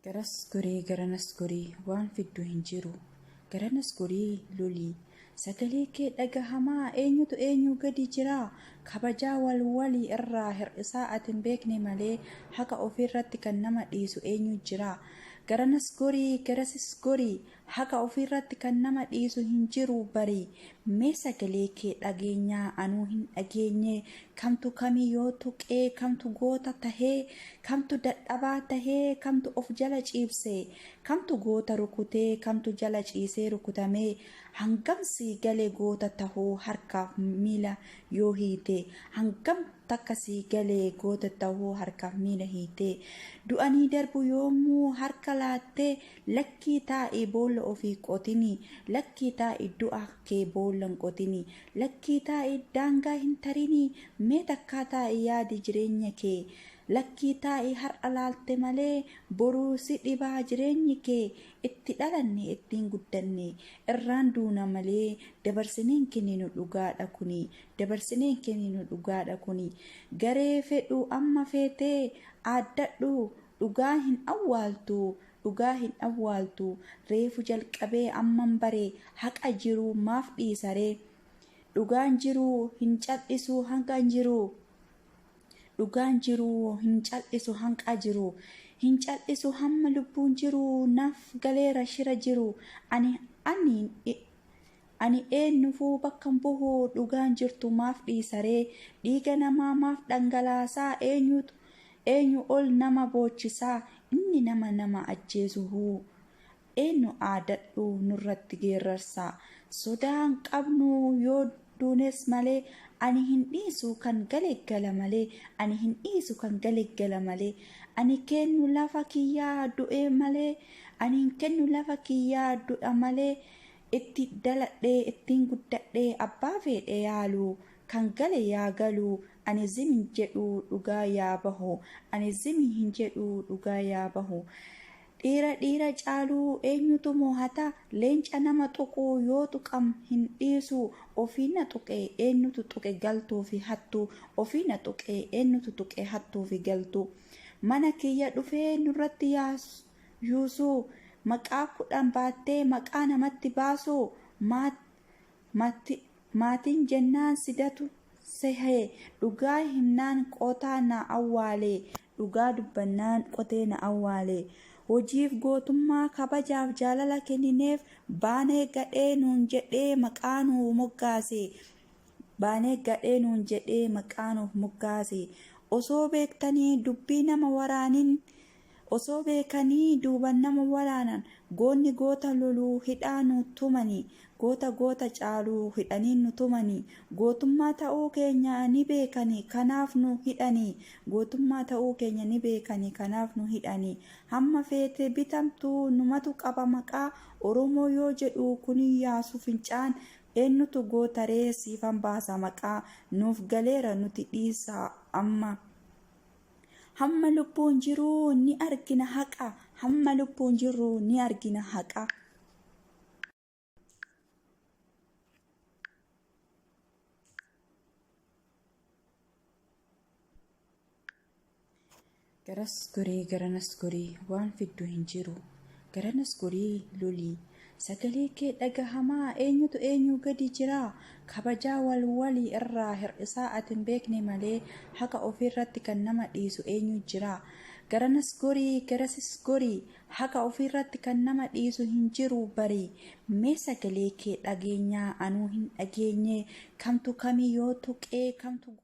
garas goree garanas goree waan fiddu hin jiru garanas goree lolii sagalee kee dhagahamaa eenyutu eenyu gadi jira kabajaa wal walii irraa hir'isaa ati hin beekne malee haqa ofiirratti kan nama dhiisu eenyu jira garanas gorii garasis gorii Haqa ofiirratti kan nama dhiisu hin jiru bari mee sagalee kee dhageenyaa anuu hin dhageenye kamtu kamii yoo tuqee kamtu goota tahee kamtu dadhabaa tahee kamtu of jala ciibse kamtu goota rukutee kamtu jala ciisee rukutamee hangam sii gale goota tahuu harkaaf miila yoo hiite hangam takka sii gale goota tahuu harkaaf miila hiite du'anii darbu yoomuu harka laattee Lakkii taa'ii boolla ofii qotini Lakkii taa'ii du'a kee boolla hin qotini Lakkii taa'ii daangaa hin tarini Mee takkaa taa'ii yaadi jireenya kee Lakkii taa'ii har'a laalte malee Boruu si dhibaa jireenyi kee Itti dhalanne ittiin guddanne Irraan duuna malee Dabarsinee hin kenninu dhugaadha kuni Dabarsinee hin kenninu dhugaadha kuni Garee fedhuu amma feetee Aaddadhu Dhugaa hin awwaaltu dhugaa hin awwaaltu reefu jalqabee amman bare haqa jiru maaf dhiisa ree dhugaan jiru hin cal'isu hanqa jiru dhugaan jiru hin cal'isu hanqa jiru hin cal'isu hamma lubbuun jiru naaf galeera shira jiru ani ani Ani eenyufuu bakkan buhu dhugaan jirtu maaf dhiisaree dhiiga namaa maaf dhangalaasaa eenyutu eenyu ol nama boochisaa inni nama nama ajjeesu huu eenyu aadadhu nurratti geerrarsaa sodaan qabnu yoo duunes malee ani hin dhiisu kan gale gala malee ani hin dhiisu kan gale gala malee ani keennu lafa kiyyaa du'ee malee ani hin kennu lafa kiyyaa du'a malee itti daladhee ittin guddadhee abbaa feedhe yaalu kan gale yaa galu ani zim hin jedhu dhugaa yaa bahu ani zim hin jedhu dhugaa yaa bahu dhiira dhiira caalu eenyutu moohata leenca nama tuqu yoo tuqam hin dhiisu ofii na tuqe eenyutu tuqe galtuu fi hattu ofii na tuqe eenyutu tuqe hattuu fi galtu mana kiyya dhufee nurratti yaa Yuusuu. Maqaa kudhan baattee maqaa namatti baasuu maat matti maatiin jennaan sidatu sehe dhugaa himnaan qotaa na awwaale dhugaa dubbannaan qotee na awwaale hojiif gootummaa kabajaaf jaalala kennineef baanee gadhee nuun jedhee maqaa nuu moggaase baanee gadhee nuun jedhee maqaa nuuf moggaase osoo beektanii dubbii nama waraanin Osoo beekanii duuban nama waraanan goonni goota loluu hidhaa nu tumanii goota goota caalu hidhanii nu tumanii gootummaa ta'uu keenya ni beekanii kanaaf nu hidhanii gootummaa ta'uu keenya ni beekanii kanaaf nu hidhanii hamma feete bitamtu numatu qaba maqaa oromoo yoo jedhu kun yaasu fincaan eennutu gootaree siifan baasa maqaa nuuf galeera nuti dhiisaa amma Hamma lubbuun jiruu ni argina haqa. Hamma lubbuun jirru ni argina haqa. Garas gorii garanas gorii waan fiddu hin jiru. Garanas gorii lolii Sagalee kee dhagahamaa eenyutu eenyuu gadi jiraa kabajaa wal walii irraa hir'isaa ati hin beekne malee haqa ofii irratti kan nama dhiisu eenyuu jiraa garanas gorii garasis gorii haqa ofii irratti kan nama dhiisu hin jiruu barii mee sagalee kee dhageenyaa anuu hin dhageenyee kamtu kamii yoo tuqee kamtu